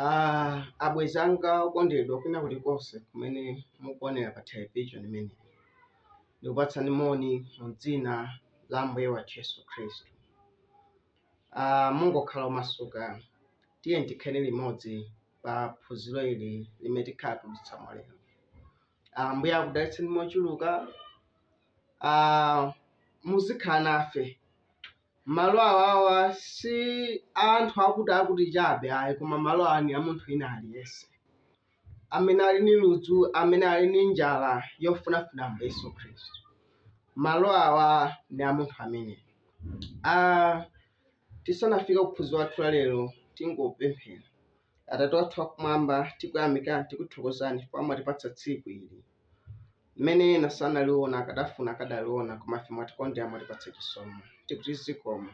Ah, abwenzi anga okondedwa kwina kulikonse kumene mukuonera pa television imeneyi ndikupatsani moni mu dzina la ambuye wathu yesu khristu Ah, mungokhala omasuka tiyeni tikhale limodzi pa phunziro ili limene tikhala tikudutsamo lero Ambuye akudalitseni mochuluka. Ah, muzikhala nafe malo awawa si a anthu akuti akuti chabe ayi koma malo awa ni a munthu wina aliyense amene ali ni ludzu amene ali ni njala yofunafuna ambuye yesu khristu malo awa ni a munthu amene ah, tisanafike kuphunziro lathu la lero tingopemphera Atate wathu wakumwamba, tikuyamikani, tikuthokozani chifukwa mwatipatsa tsiku ili limene ena sanaliona akadafuna akadaliona koma ife mwatikondera mwatipatsa chisomo tikuti zikomo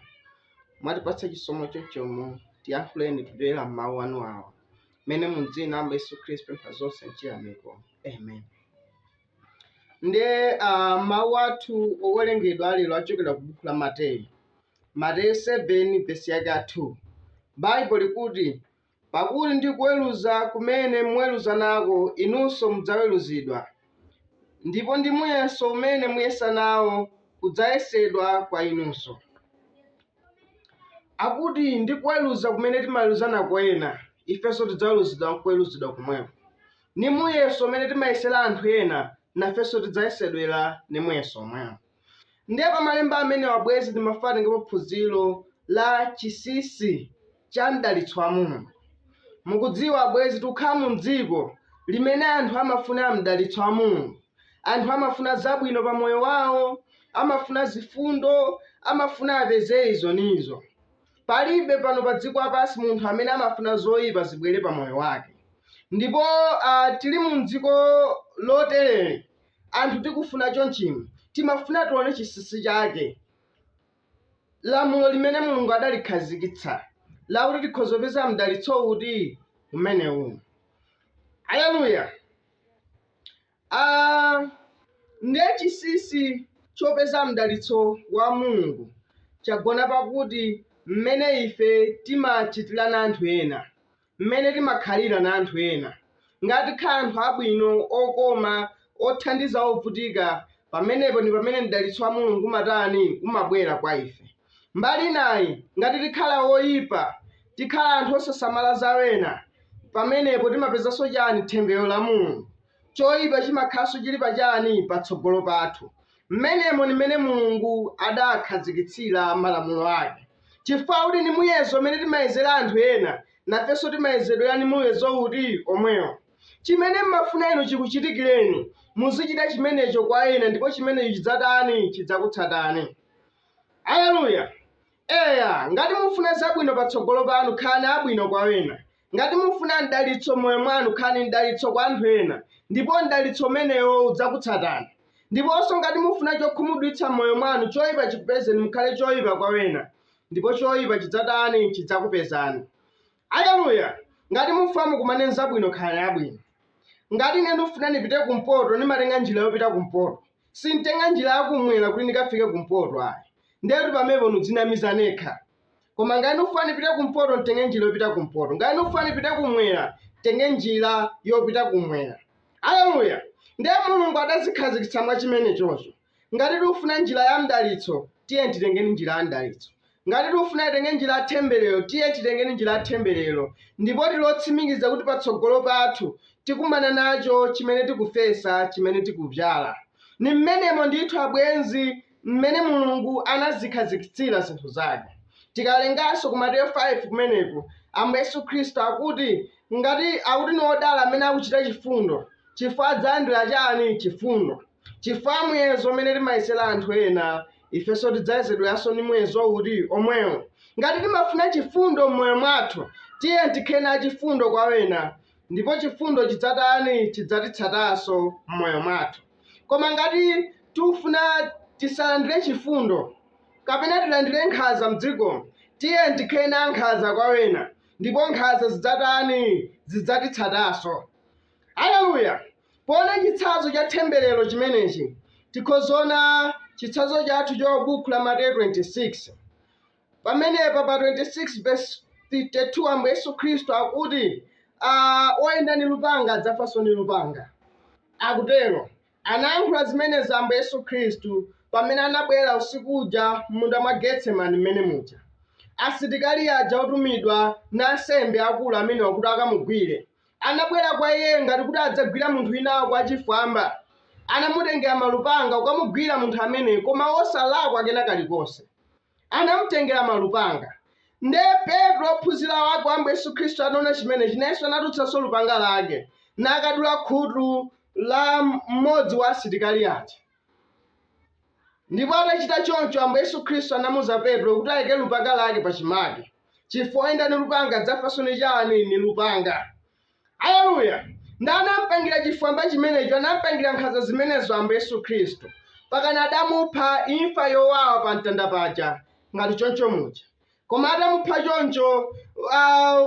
mwatipatsa chisomo chochomo tiyankhuleni kudzera m'mawu anu awa amene mu dzina la ambuye yesu khristu tapempha zonse mchiyamiko amen ndiye uh, mawu athu owerengedwa alero achokera ku buku la mateyu Mateyu 7 vesi yake ya 2 Baibulo likuti, Pakuti ndi kuweluza kumene muweluza nako inunso mudzaweluzidwa, ndipo ndi muyeso umene muyesa nawo kudzayesedwa kwa inunso. Akuti ndi kuweluza kumene timaweluza nako ena, ifenso tidzaweluzidwa n'kuweluzidwa komweko. Ni muyeso umene timayesela anthu ena, nafenso tidzayesedwa ni muyeso omwewo. Ndiye pa malemba amenewa abwenzi timafuna titengepo phunziro la chinsinsi cha mdalitso wa Mulungu. Mukudziwa, abwenzi tikukhala mu mdziko limene anthu amafuna mdalitso wa Mulungu. Anthu amafuna zabwino pa moyo wawo, amafuna zifundo, amafuna apeze izo ndi izo. Palibe pano pa dziko lapansi munthu amene amafuna zoyipa zibwere pa moyo wake. Ndipo ah, tili mu mdziko lotereli, anthu tikufuna chonchimo timafuna tione chinsinsi chake lamulo limene mulungu adalikhazikitsa lakuti tikhoza kupeza mdalitso uti umenewu aleluya Ah, ndiye chinsinsi chopeza mdalitso wa mulungu chagona pakuti mmene ife timachitira na anthu ena mmene timakhalira na anthu ena. Ngati tikhala anthu abwino, okoma, othandiza ovutika, pamenepo ni pamene mdalitso wa Mulungu umatani? Umabwela kwa ife. Mbali inayi, ngati tikhala oipa, tikhala anthu osasamala za ena, pamenepo timapezanso chani? Temberero la Mulungu. Choipa chimakhalanso chili pa chani? Patsogolo pathu. Mmenemo ndi mmene Mulungu adakhazikitsira malamulo ake. Chifukwa akuti ni muyezo umene timayezera anthu ena, nafenso timayezedwera ni muyezo uti? Omwewo. Chimene mmafuna inu chikuchitikireni, muzichita chimenecho kwa ena ndipo chimenecho chidzatani? Chidzakutsatani. Alleluya! Eya, ngati mufuna zabwino patsogolo panu khalani abwino kwa wena. Ngati mufuna mdalitso m'moyo mwanu khalani mdalitso kwa anthu ena, ndipo mdalitso umenewo udzakutsatani. Ndiponso ngati mufuna chokhumudwitsa m'moyo mwanu choipa chikupezeni mukhale choipa kwa wena, ndipo choipa chidzatani? Chidzakupezani. Aleluya! Ngati mufuna mukumane nzabwino khalani abwino. Ngati ine ndifuna ndipite kumpoto ndimatenga njira yopita kumpoto. Sintenga njira ya kumwera kuti ndikafike kumpoto ayi. Ndetu pamepo ndidzinamiza nekha. Koma ngati ndikufuna ndipite kumpoto ntenge njira yopita kumpoto. Ngati ndikufuna ndipite kumwera ntenge njira yopita kumwera. Aleluya! Ndiye Mulungu adazikhazikitsa mwa chimenechocho. Ngati tikufuna njira ya mdalitso, tiye titengeni njira ya mdalitso. Ngati tikufuna titenge njira ya thembelero, tiye titengeni njira ya thembelero, ndipo tili otsimikiza kuti patsogolo pathu tikumana nacho chimene tikufesa, chimene tikubyala. Ni mmenemo ndithu abwenzi mmene Mulungu anazikhazikitsira zinthu zake. Tikawerenganso ku Mateyu 5 kumeneku, Ambuye Yesu Khristu akuti ngati akuti ni odala amene akuchita chifundo chifukwa adzalandira chani? Chifundo. Chifukwa muyezo umene timayesera anthu ena, ifenso tidzayezedweranso ni muyezo uti? Omwewo. Ngati timafuna chifundo m'moyo mwathu, tiyeni tikhale achifundo kwa wena, ndipo chifundo chidzatani? Chidzatitsatanso m'moyo mwathu. Koma ngati tikufuna tisalandire chifundo, kapena tilandire nkhanza m'dzikomu, tiyeni tikhale ankhanza kwa wena, ndipo nkhanza zidzatani? Zidzatitsatanso. Aleluya! Poona chitsanzo cha themberero chimenechi, tikhoza ona chitsanzo chathu cho bukhu la Mateyu 26. Pamenepa pa 26 vesi 52 Ambuye Yesu Khristu akuti oyenda ndi lupanga adzafanso ndi lupanga. Akutero. Anayankhula zimenezi Ambuye Yesu Khristu pamene anabwera usiku uja mmunda mwa Getsemani mmene muja. Asitikali aja otumidwa ndi ansembe akulu amenewa kuti akamugwire, Anabwera kwa iye ngati kuti adzagwira munthu winawake wachifwamba, anamutengera malupanga kukamugwira munthu ameneyo, koma osalakwa kena kalikonse. Anamutengera malupanga. Ndiye Petro, wophunzira wake wa Ambuye Yesu Khristu, anaona chimenechi, nayenso anatulutsanso lupanga lake nakadula khutu la mmodzi wa asitikali aja. Ndipo atachita choncho, Ambuye Yesu Khristu anamuza Petro kuti ayike lupanga lake pa chimake, chifukwa oyenda ni lupanga adzafanso ni chani? Ni lupanga. Aleluya! Ndi anampangira chifwamba chimenecho, anampangira nkhanza zimenezo Ambuye Yesu Khristu, pakana adamupha imfa yowawa pa mtanda paja, ngati choncho muja. Koma atamupha choncho, ah,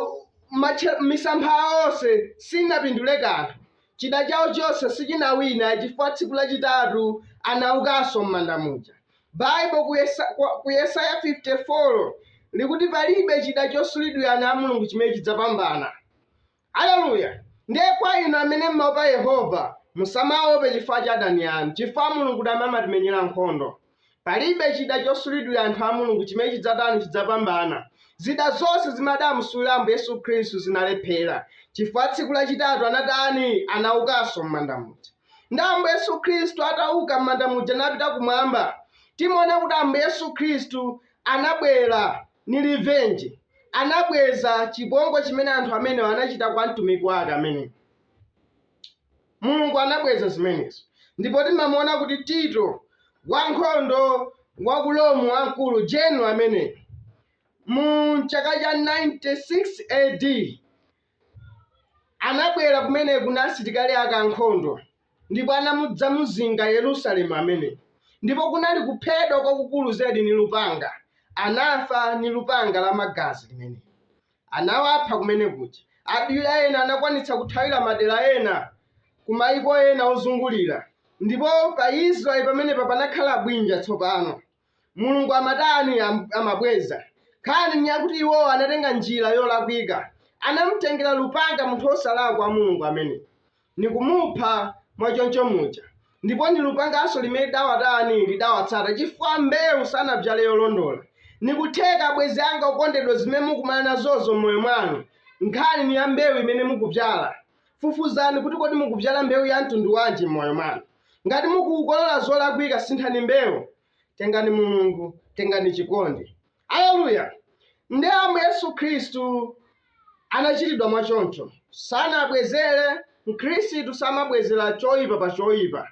matche- misampha awo onse sinapindule kanthu. Chida chawo chonse sichinawina chifukwa tsiku lachitatu anaukanso m'manda muja. Baibo ku Yesa- kwa- ku Yesaya 54 likuti palibe chida chosulidwira ana a Mulungu chimene chidzapambana. Aleluya! Ndiye kwa inu amene m'maopa Yehova, musamaope chifukwa cha adani anu, chifukwa Mulungu ndi amene amatimenyera nkhondo. Palibe chida chosulidwira anthu a Mulungu chimene chidzatani? Chidzapambana. Zida zonse zimene adamusulira Ambuye Yesu Khristu zinalephera, chifukwa tsiku lachitatu anatani? Anaukanso m'manda muja. Ndi Ambuye Yesu Khristu atauka m'manda muja napita kumwamba, timaona kuti Ambuye Yesu Khristu anabwera ni revenge, anabweza chipongwe chimene anthu amenewa anachita kwa mtumiki wake ameneyi. Mulungu anabweza zimenezi. Ndipo timamuona kuti Tito, wankhondo wa ku Rome wamkulu, general ameneyi, mu chaka cha 96 AD, anabwera kumeneku na asilikali ake ankhondo ndipo anamudzamuzinga Yerusalemu ameneyi, ndipo kunali kuphedwa kwakukulu zedi ni lupanga, anafa ni lupanga la magazi limeneli. Anawapha kumene kuja. Angapo ena anakwanitsa kuthawira madera ena ku maiko ena ozungulira, ndipo pa Israeli pamenepa panakhala bwinja tsopano. mulungu amatani Am- amabweza nkhani ni yakuti iwowo anatenga njira yolakwika anamtengera lupanga munthu wosalakwa wa mulungu ameneyi nikumupha mwachoncho muja ndipo ni lupanganso limene lidawatani lidawatsata chifukwa mbewu sanabzale yolondola nikutheka abwenzi anga okondedwa zimene mukumana nazozo m'moyo mwanu nkhani ni ya mbewu imene mukubzala Fufuzani kuti kodi mukubzala mbewu ya mtundu wanji m'moyo mwanu. Ngati mukukolola zolakwika sinthani mbewu. Tengani Mulungu, tengani chikondi. Aleluya! Nde Ambuye Yesu Khristu anachitidwa mwa choncho. Sanabwezere, Mkhristu samabwezera choipa pa choipa.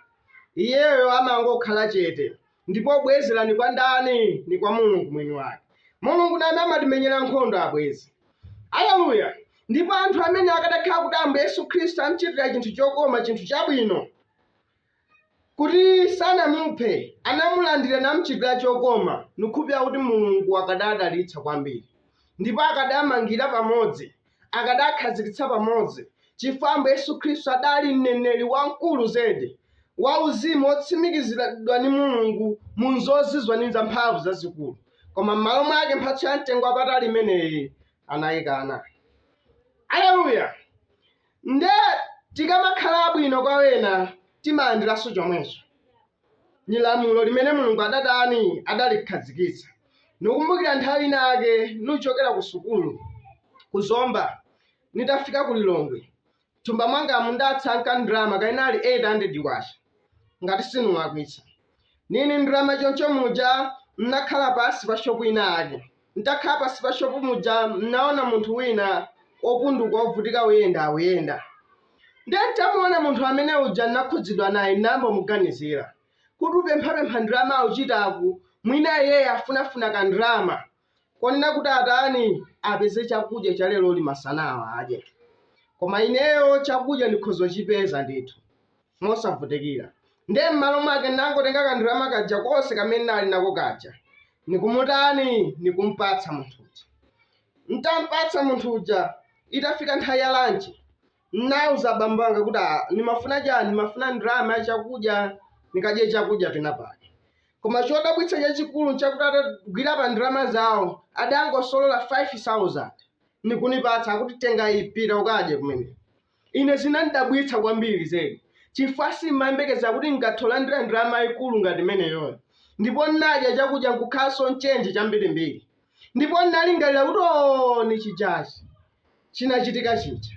Iyeyo amangokhala chete. Ndipo kubwezera ni kwa ndani? Ni kwa Mulungu mwini wake. Mulungu ni amene amatimenyera nkhondo abwenzi. Aleluya! Ndipo anthu amene akadakhala kuti Ambuye Yesu Khristu amchitira chinthu chokoma, chinthu chabwino, kuti sanamuphe, anamulandira namchitira chokoma, nikhulupirira kuti Mulungu akadawadalitsa kwambiri, ndipo akadamangira pamodzi akadakhazikitsa pamodzi, chifukwa Ambuye Yesu Khristu adali mneneri wamkulu zedi, wauzimu wotsimikiziridwa ndi Mulungu mu nzozizwa ni zamphamvu zazikulu. Koma m'malo mwake mphatso ya mtengo wapatali imeneyi anayikana. Aleluya! Nde tikamakhala abwino kwa wena timalandiranso chomwecho. Ni lamulo limene Mulungu adatani adalikhazikitsa. Nikumbukira nthawi ina yake nuchokera ku sukulu ku Zomba, nitafika ku Lilongwe, m'thumba mwangamu ndatsanka ndrama kaya inali K800, ngati sinulakwitsa. Nili ni ndrama choncho muja, n'nakhala pansi pa shopu ina yake. N'takhala pansi pa shopu muja, n'naona munthu wina wopunduka wovutika uyenda akuyenda. Ndiye n'tamuona munthu amene uja n'nakhudzidwa naye, n'nayamba kumuganizila. Kuti upemphapempha ndalama aucitaku, mwina iyeyo afunafuna kandalama konena kuti atani, apeze cakudya ca leloli masanawo adye. Koma ineyo cakudya nikhoza kucipeza ndithu. mosavutikila. Ndiye m'malo mwake n'nangotenga kandalama kaja konse kamene n'nali nako kaja nikumutani? Nikum'patsa munthu uja. N'tam'patsa munthu uja, itafika nthawi ya lanchi, n'nauza abambo anga kuti, "Ah, nimafuna cani? Nimafuna ndalama ya cakudya nikadye cakudya penapake." Koma codabwitsa cacikulu n'cakuti atagwila pa ndalama zawo, adangosolola 5,000 nikunipatsa kuti, "Tenga iyi, pita ukadye kumeneko." Ine zinandidabwitsa kwambiri zedi, chifukwa sindimayembekeza kuti ndikatholandira ndalama yaikulu ngati imeneyoyo. Ndipo ndinadya chakudya nkukhalanso nchenji chambirimbiri. Ndipo ndinalingalira kuti, O, ni chijachi, chinachitika chija.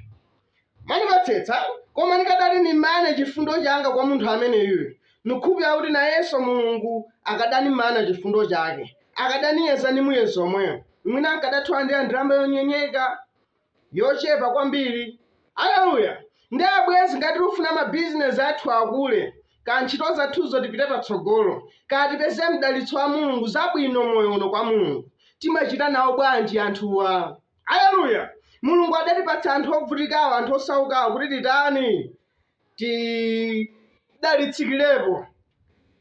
Mwanimvetsetsa, koma nikadati nimane chifundo changa kwa munthu ameneyuyu, nukhulupirira kuti nayenso Mulungu akadanimana chifundo chake, akadaniyeza ni muyezo omweyo. Mwina nkadatholandira ndalama yonyenyeka yochepa kwambiri. Aleluya! Nde abwenzi ngati tikufuna mabizinesi athu akule, kaya ntchito zathuzo tipite patsogolo, kaya tipeze mdalitso wa Mulungu zabwino moyo uno kwa Mulungu, timachita nawo bwanji anthuwa? Aleluya! Mulungu adatipatsa anthu obvutikawo anthu osaukawo kuti titani? tidalitsikirepo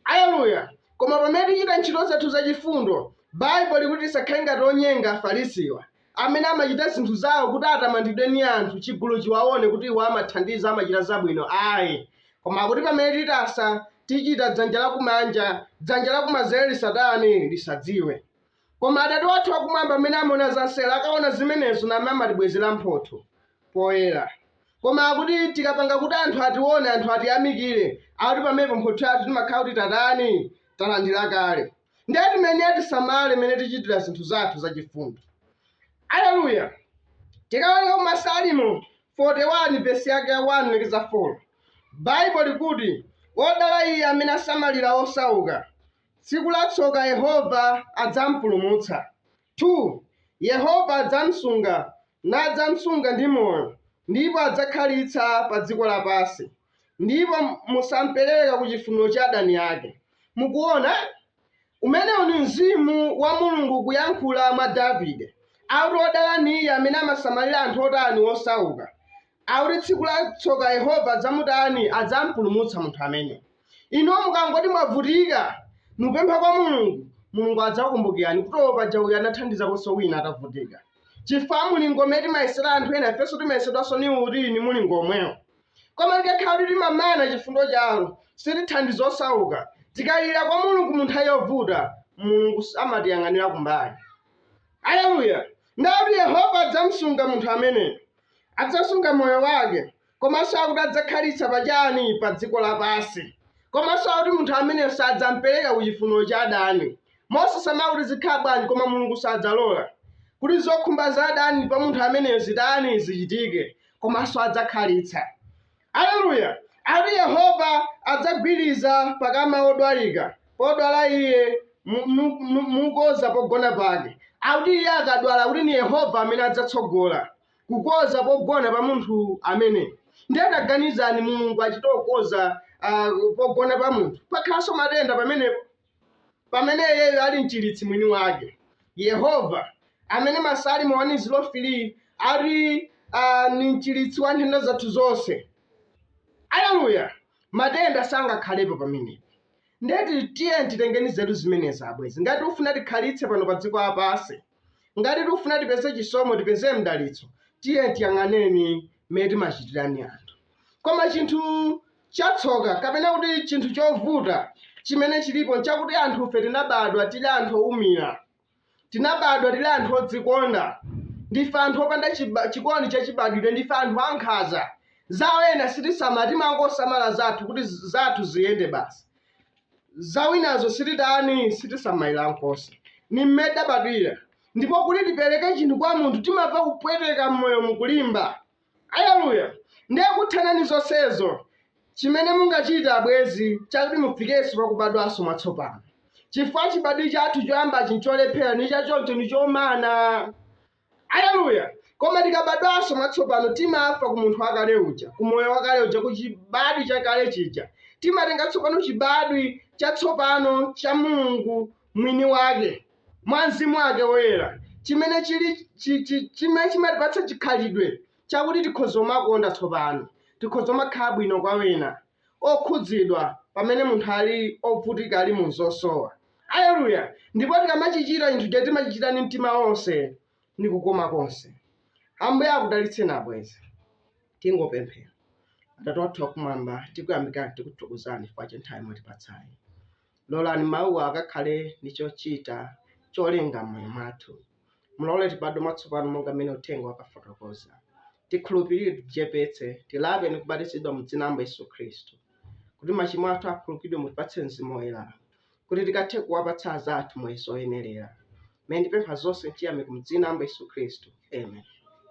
aleluya koma pamene tichita ntchito zathu zachifundo baibulo likuti tisakhale ngati onyenga afarisiwa amene amachita zinthu zawo kuti atamandidwe ni anthu chigulu chiwaone kuti iwo amathandiza amachita zabwino ayi koma kuti pamene titasa tichita dzanja lakumanja dzanja lakumanzere lisatani lisadziwe Koma Atate wathu akumwamba amene amaona za mseri akaona zimenezo naye amatibwezera mphotho poyera. Koma akuti tikapanga kuti anthu atione, anthu atiyamikire, akuti pamenepo mphotho yathu timakhala kuti tatani? Talandira kale. Ndiye timayenera tisamale mmene tichitira zinthu zathu zachifundo. Aleluya! Tikawerenga ku Masalimo 41 vesi yake ya 1 lekeza 4, Baibulo likuti, Wodala iye amene asamalira osauka, Tsiku la tsoka Yehova adzam'pulumutsa, 2 Yehova adzam'sunga, nadzam'sunga ndi moyo, ndipo adzakhalitsa pa dziko lapansi, ndipo musam'pereka ku chifuniro cha adani ake. Mukuona? Umenewu ni mzimu wa Mulungu ukuyankhula mwa Davide, akuti, Wodala ni iye amene amasamalira anthu otani? Osauka. Akuti tsiku la tsoka Yehova adzamutani? Adzampulumutsa munthu amene. Inuyo mukangoti mwavutika, nupempha kwa Mulungu, Mulungu adzakukumbukirani kuti oo paja uyu anathandizakonso wina atavutika. Chifukwa mlingo umene timayesera anthu ena ifenso timayesedwanso ni uti? Ni mlingo omwewo. Koma tikakhala kuti timamana chifundo chawo, sitithandiza osauka, tikalira kwa Mulungu mu nthawi yovuta, Mulungu s- amatiyang'anira kumbali. Aleluya! Nde akuti Yehova adzamsunga munthu ameneyo. adzasunga moyo wake komanso akuti adzakhalitsa pa chani pa dziko lapansi komanso akuti munthu ameneyo sadzampereka ku chifuniro cha adani mosasamala kuti zikhala bwanji koma mulungu sadzalola kuti zokhumba za adani pa munthu ameneyo zitani zichitike komanso adzakhalitsa Aleluya! Ati, Yehova adzam'gwiriziza pa kama wodwalika, podwala iye, mu, mu, mu, mukonza pogona pake. Akuti iye akadwala, kuti ni Yehova amene adzatsogola kukonza pogona pa munthu amene. Ndiye taganizani Mulungu achite kukonza ah, pogona pa munthu. Pakhalanso matenda pamenepo. Pamene iyeyo ali mchiritsi mwini wake, Yehova, amene Masalimo wani zilo filii ati a, ni mchiritsi wa nthenda zathu zonse. Aleluya! Matenda sangakhalepo pamenepo. Ndeti tiyeni titengeni nzeru zimenezi, abwenzi, ngati tikufuna tikhalitse pano pa dziko lapansi. Ngati tikufuna tipeze chisomo, tipeze mdalitso, tiyeni tiyang'aneni mmene timachitirani anthu. Koma chinthu chatsoka kapena kuti chinthu chovuta chimene chilipo nchakuti anthufe tinabadwa tili anthu oumira, tinabadwa tili anthu odzikonda, ndife anthu opanda chiba, chikondi chachibadwidwe, ndife anthu ankhanza. Zawo ena sitisamala, timangosamala zathu kuti zathu ziyende basi. za wenazo sititani sitisamalira nkomwe ni mmene tabadwira ndipo kuti tipereke chinthu kwa munthu timamva kupweteka mmoyo mukulimba aleluya ndiye kuthana ni zonsezo chimene mungachita abwezi chakuti mufikenso pakubadwanso mwatsopano chifukwa chibadwi chathu choyamba chija ncholephera ni chachoncho ni chomana Aleluya! Koma tikabadwanso mwatsopano, timafa ku munthu wakale uja, ku moyo wakale uja, ku chibadwi chakale chija. Timatenga tsopano chibadwi chatsopano cha Mulungu mwini wake mwa Mzimu wake Woyera chimene chili, chimene chimatipatsa chikhalidwe chakuti tikhoza kumakonda tsopano, tikhoza kumakhala bwino kwa wena. okhudzidwa pamene munthu ali ovutika ali mu zosowa aleluya ndipo tikamachichita chinthucho timachichita ndi mtima onse ndi kukoma konse ambuye akudalitseni abwezi tingopemphera atate wathu akumwamba tikuyamikani tikuthokozani chifukwa cha nthawi mwatipatsayi lolani mawuwa akakhale ndi chochita cholenga mmoyo mwathu mulole tibadwe mwatsopano monga mmene uthenga wakafotokoza Tikhulupirire, tidzichepetse, tilape ndi kubatizidwa mu Dzina la Ambuye Yesu Khristu, kuti machimo athu akhululukidwe, mutipatse Mzimu Woyera, kuti tikathe kuwapatsa azathu muyeso woyenelera. Pamene ndipempha zonse m'chiyamiko mu Dzina la Ambuye Yesu Khristu. Amen.